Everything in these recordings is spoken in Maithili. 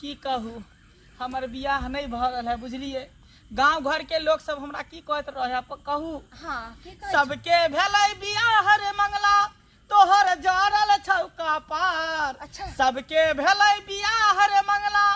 की कहू हमर बियाह नहि भऽ रहल है बुझलियै गांव घर के लोग सब हमरा की कहत रहे है प- कहू हाँ की कहै छी? सबके भेलै बियाह रे मंगला तोहर जरल छौ कपार अच्छा। सबके भेलै बियाह रे मंगला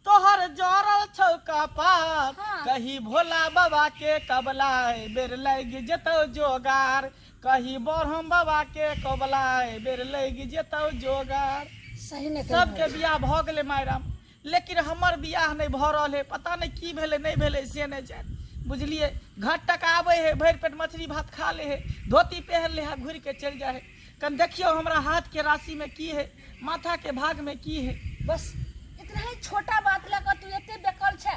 तोहर जरल छौ कपार हाँ। कही भोला बाबा के कबला बेर लग जेतौ जोगार कहि बरहम बाबा के कबला एहि बेर लगि जेतौ जोगार सही नहि कहि सबके बियाह भऽ गेलै मायराम लेकिन हमर बियाह नहि भऽ रहल है पता नहि की भेलै नहि भेलै से नहि जाय बुझलियै घट टका आबै है भरि पेट मछली भात खा ले है धोती पहन ले है घुरि के चलि जाइ है कनि देखियौ हमरा हाथ के राशि में की है माथा के भाग में की है बस एकरा ही छोटा बात लऽ कऽ तू एते बेकल छै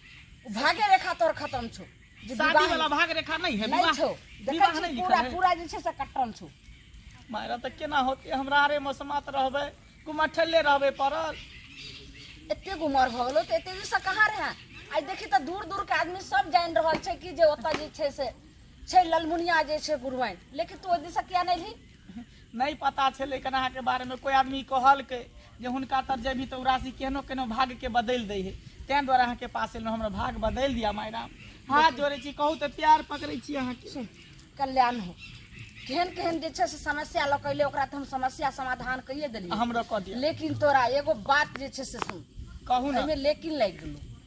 भाग्य रेखा तोर खत्म छौ जे शादी विवाह वाला भाग रेखा नहीं है नहीं विवाह छौ देखै विवाह छी नहीं लिखल पूरा है पूरा जे छै से कटल छौ मारा तऽ केना होते हमरा आरे मसमात रहबै कुमठले रहबै पड़ल एते गुमर भऽ गेलो तऽ एते दिनसँ कहाँ रहै आइ देखी तऽ दूर दूर के आदमी सब जानि रहल छै कि जे ओतऽ जे छै से छै ललमुनिया जे छै गुरुआइन लेकिन तू ओहि दिनसँ किया नहि रही नहि पता छलै कनाहाके बारेमे कोइ आदमी कहलकै जे हुनका तर जेबी तऽ ओ राशि केहनो केहनो भागके बदलि दै है ताहि दुआरे अहाँके पास एलहुँ हमरा भाग बदलि दिअ माय राम हाथ जोड़ै छी कहू तऽ प्यार पकड़ै छी अहाँके कल्याण हो केहन केहन जे छै से समस्या लऽ कैले ओकरा तऽ हम समस्या समाधान कहिए देलियै हमरा कह दिअ लेकिन तोरा एगो बात जे छै से सुन कहू ने एहिमे लेकिन लागि गेलौ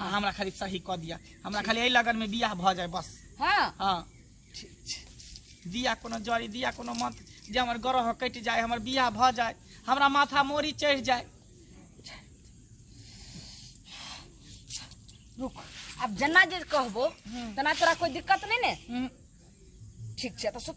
आ हमरा खाली सही कऽ दिया हमरा खाली एहि लगन में बियाह भऽ जाए बस हाँ हाँ ठीक छै दिया कोनो जड़ी दिया कोनो मत जे हमर ग्रह कटि जाए हमर बियाह भऽ जाए हमरा माथा मोरी चढ़ि जाए रुक अब जना जे कहबो तना तोरा कोई दिक्कत नहीं ने हम्म, ठीक छै तो सुत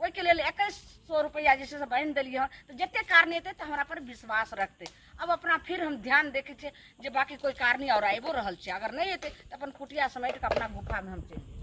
ओहिके लेल एकैस सौ रुपैआ जे छै से बान्हि देलियै हँ तऽ जतेक कारणी एतै तऽ हमरा पर विश्वास रखतै अब अपना फिर हम ध्यान देखै छियै जे बाँकी कोइ कारणी आओर आबिओ रहल छै अगर नहि एतै तऽ अपन कुटिया समेट कऽ अपना गुफामे हम चलि जेबै